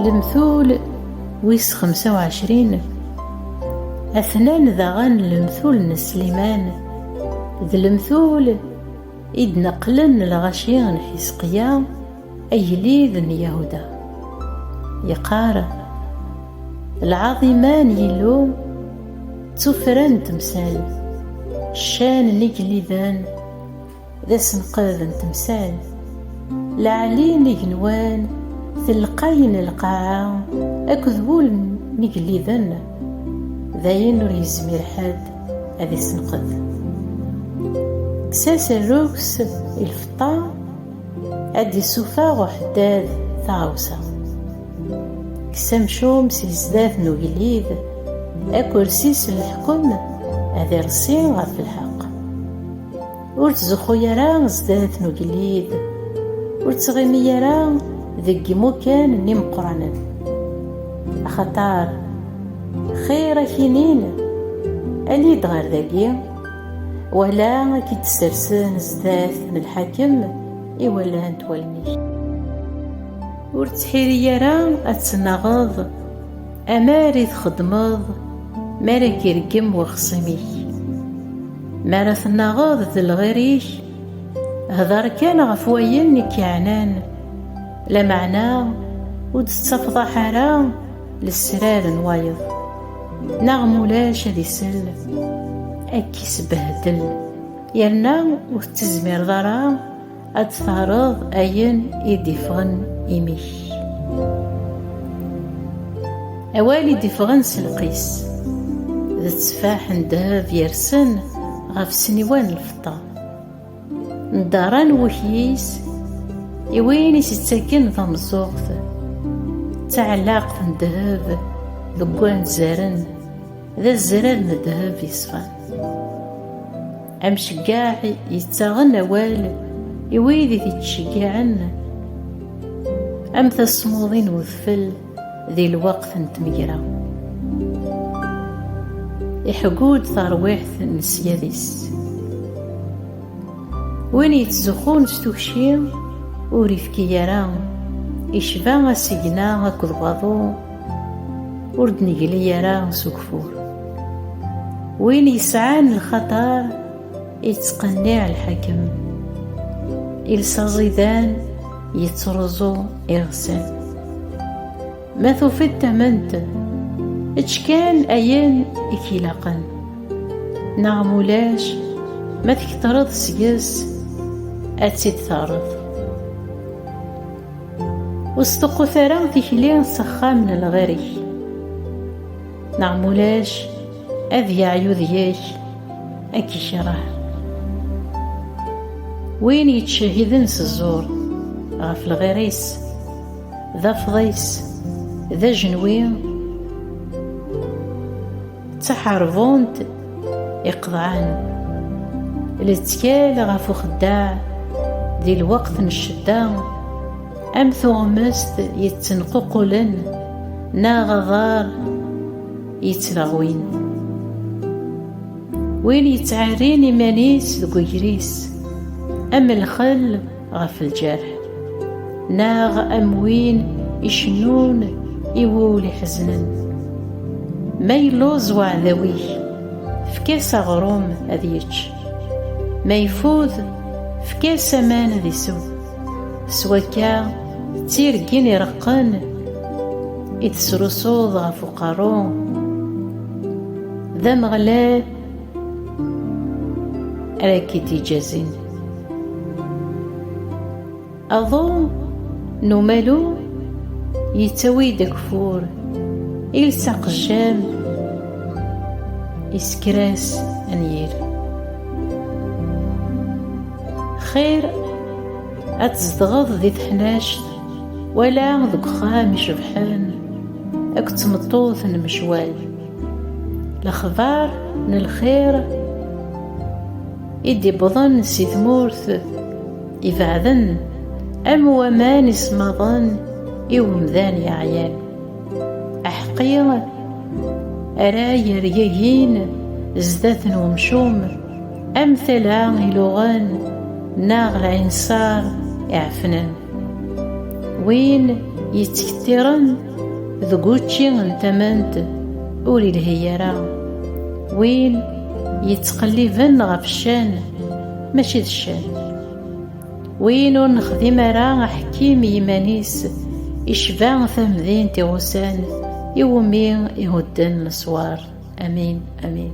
Lemtul wis xemsa u ɛecrin Atnan daɣen lemtul n Sliman d lemtul i d-neqlen lɣaci n Ḥisqiya agellid n Yahuda. Yeqqar, Lɛaḍima n Yillu d tuffra n temsal, ccan n igelliden, D asenqed n temsal. Lɛali n igenwan, telqay n lqaɛa akked wul n igelliden, d ayen ur yezmir ḥedd ad isenqed. Kkes-as rruks i lfeṭṭa, ad d-issufeɣ uḥeddad taɣawsa. Kkes amcum si zdat n ugellid, akersi-s n leḥkem ad ireṣṣi ɣef lḥeqq. Ur tzuxxu ara zdat n ugellid, ur ttɣimi ara deg yimukan n imeqqranen, axaṭer xir ad k-inin ali-d ɣer dagi, wala ad k-id-ssersen zdat n lḥakem iwalant wallen-ik. Ur ttḥiri ara ad tennaɣeḍ amar i txeddmeḍ mi ara k-ireggem wexṣim-ik. Mi ara tennaɣeḍ d lɣir-ik, hder kan ɣef wayen i k-iɛnan, lameɛna ur d-tettafḍaḥ ara lesrar n wayeḍ, neɣ ma ulac ad isell, ad k-isbehdel, yerna ur tettezmireḍ ara Ad tfehreḍ ayen i d-iffɣen imi-k. Awal i d-iffɣen s lqis, d tteffaḥ n ddheb yersen ɣef ssniwa n lfeṭṭa. Ndarran wukyis i win i s-ittaken tameẓẓuɣt, d taɛellaqt n ddheb deg wanzaren, D azrar n ddheb yeṣfan. Amceggaɛ yettaɣen awal i wid i t-ittceggiɛen am tasmuḍi n udfel di lweqt n tmegra. Iḥeggu-d tarwiḥt n ssyad-is. Win yettzuxxun s tukci ur ifki ara, icba asigna akked waḍu, ur d-negli ara s ugfur win yesɛan lxatar yettqenniɛ lḥakem iles aẓidan yettruẓu iɣsan ma tufiḍ tament ečč kan ayen i k-ilaqen neɣ mulac ma tketreḍ seg-s ad tt-id-terreḍ Ur sṭuqqut ara tikli s axxam n lɣir-ik, neɣ ma ulac ad yeɛyu deg-k ad k-ikreh. Win yettcehhiden s ẓẓur ɣef lɣir-is, d afḍis, d ajenwi, ttaḥarbunt iqḍan lettkal ɣef uxeddaɛ di lweqt n ccedda am tuɣmest yettenququlen neɣ aḍar yettleɣwin win yettɛerrin iman-is deg ugris am lxel ɣef lǧerḥ neɣ am win icennun i wul iḥeznen ma yelluẓ waɛdaw-ik efk-as aɣrum ad yečč ma ifud efk-as aman ad isew s wakka d tirgin ireqqen i tesrusuḍ ɣef uqerru d ameɣlal Ara k-id-iǧazin. Aḍu n umalu yettawi-d ageffur, iles aqejjam isker-as anyir. Xir ad tzedɣeḍ di teḥnact wala deg uxxam icebḥen akked tmeṭṭut n mecwal. Lexbar n lxir i d-iwwḍen si tmurt ibeɛden am waman ismaḍen i umdan yeɛyan. Aḥeqqi ara yergagin zdat n umcum am tala iluɣen neɣ lɛinṣar iɛefnen. Win yettkettiren Deg učči n tamant ur ilhi ara win yettqelliben ɣef ccan mačči d ccan win ur nexdim ara aḥekkim i yiman-is icba tamdint i ɣusan iwumi ihudden leswar amin amin